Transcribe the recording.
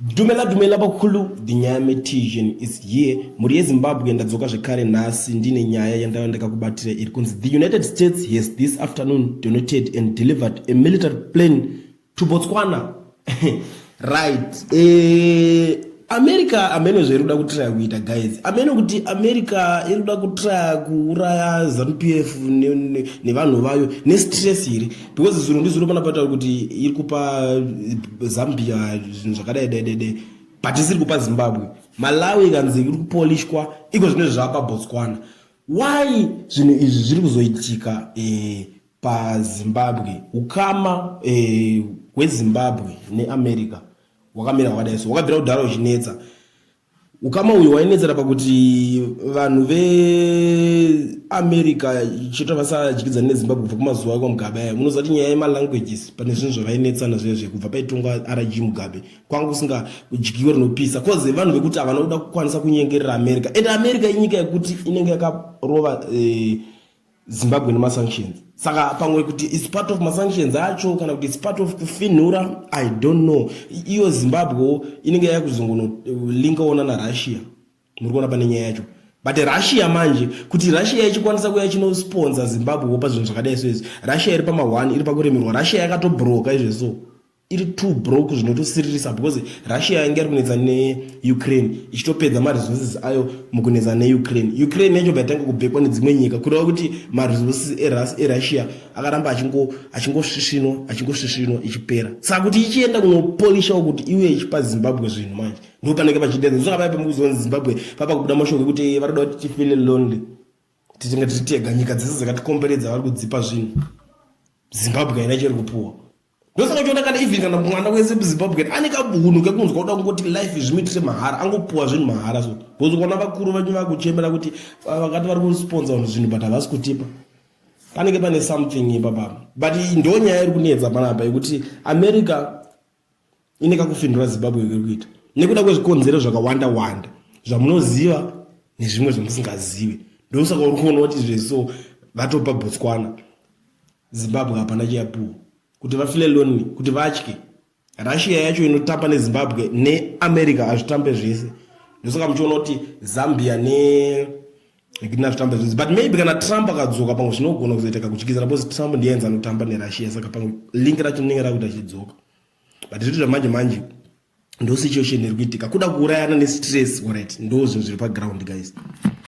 Dumela dumela bakulu Dinyame Tijan is here mhuri yeZimbabwe ndadzoka zvekare nhasi ndine nyaya yandava ndakakubatira iri kunzi the United States has this afternoon donated and delivered a military plane to Botswana right eh America amene zvairi kuda kutraya kuita guys amene kuti America iri kuda kutraya kuuraya ZANU PF nevanhu ne, ne vayo nestress iri because zuro ndizuro pana pata kuti iri kupa zambia zvinhu zvakadai dai dai but isiri kupa zimbabwe malawi ikanzi iri kupolishwa iko zvine zvapa botswana why zvinhu izvi zviri kuzoitika eh, pazimbabwe ukama eh, hwezimbabwe neamerica wakamira wakadai so wakabvira kudhara uchinetsa Ukama uyu wainetsera pakuti vanhu veamerica chete vasadyidzani nezimbabwe kubva kumazuva kwamugabe aya munoziva kuti nyaya yemalanguages pane zvinhu zvavainetsana zviya zviya kubva paitongwa rg mugabe kwanga kusinga dyiwe rinopisa cause vanhu vekuti havana kuda kukwanisa kunyengerera america and america inyika yekuti inenge yakarova eh, zimbabwe nemasanctions saka pamwe kuti its part of masanctions acho kana kuti its part of kufinhura i don't know iyo zimbabwe inenge yaya kuzongonolinkaona eh, narussia muri kuona pane nyaya yacho but russia manje kuti russia ichikwanisa kuya chinosponsa zimbabwe wopa zvinhu zvakadai so izvi russia iri pama1 iri pakuremerwa russia yakatobroka izvezoo iri too broke zvinotosiririsa because russia yange iri kunetsa neukraine ichitopedza maresources ayo mukunetsa neukraine ukraine yacho baitanga kubhekwa nedzimwe nyika kureva kuti maresources erussia akaramba achingosvisvinwa achingosvisvinwa ichipera saka kuti ichienda kunopolishawo kuti iwe ichipa zimbabwe zvinhu manje ndo panenge pachidedza ndosoka paya pamukuzonzi zimbabwe papa kubuda mashoko ekuti vanoda kuti tifile lonely tichinge tichitega nyika dzese dzakatikomberedza vari kudzipa zvinhu zimbabwe haina chiri kupuwa ndosaka uchiona kana even kana mwana wese muzimbabwe ane kabunhu kekunzwa kuda kungoti life zvimuitire mahara angopuwa zvinhu mahara so bcause ukaona vakuru vanyu vakuchemera kuti ah, vakati vari kusponsa vanhu zvinhu but havasi kutipa panenge pane something ipapapa but ndo nyaya iri kunetsa panapa yekuti america ine kakufindura zimbabwe kuri kuita nekuda kwezvikonzero zvakawanda wanda zvamunoziva nezvimwe zvamusingazivi ndosaka uri kuona kuti zveso vatopa botswana Zimbabwe hapana chiyapuwa kuti vafile lonely kuti vatye russia yacho inotamba nezimbabwe neamerica hazvitambe zvese ndosaka muchiona kuti zambia nekina zvitambe zvese but maybe kana trump akadzoka pamwe zvinogona kuzoiteka kutyizana bcause trump ndiye anzi anotamba nerussia saka pamwe link racho rinenge rakuti achidzoka but zviti zvamanje manje ndo situation iri kuitika kuda kuurayana nestress orit ndo zvinhu zviri paground guys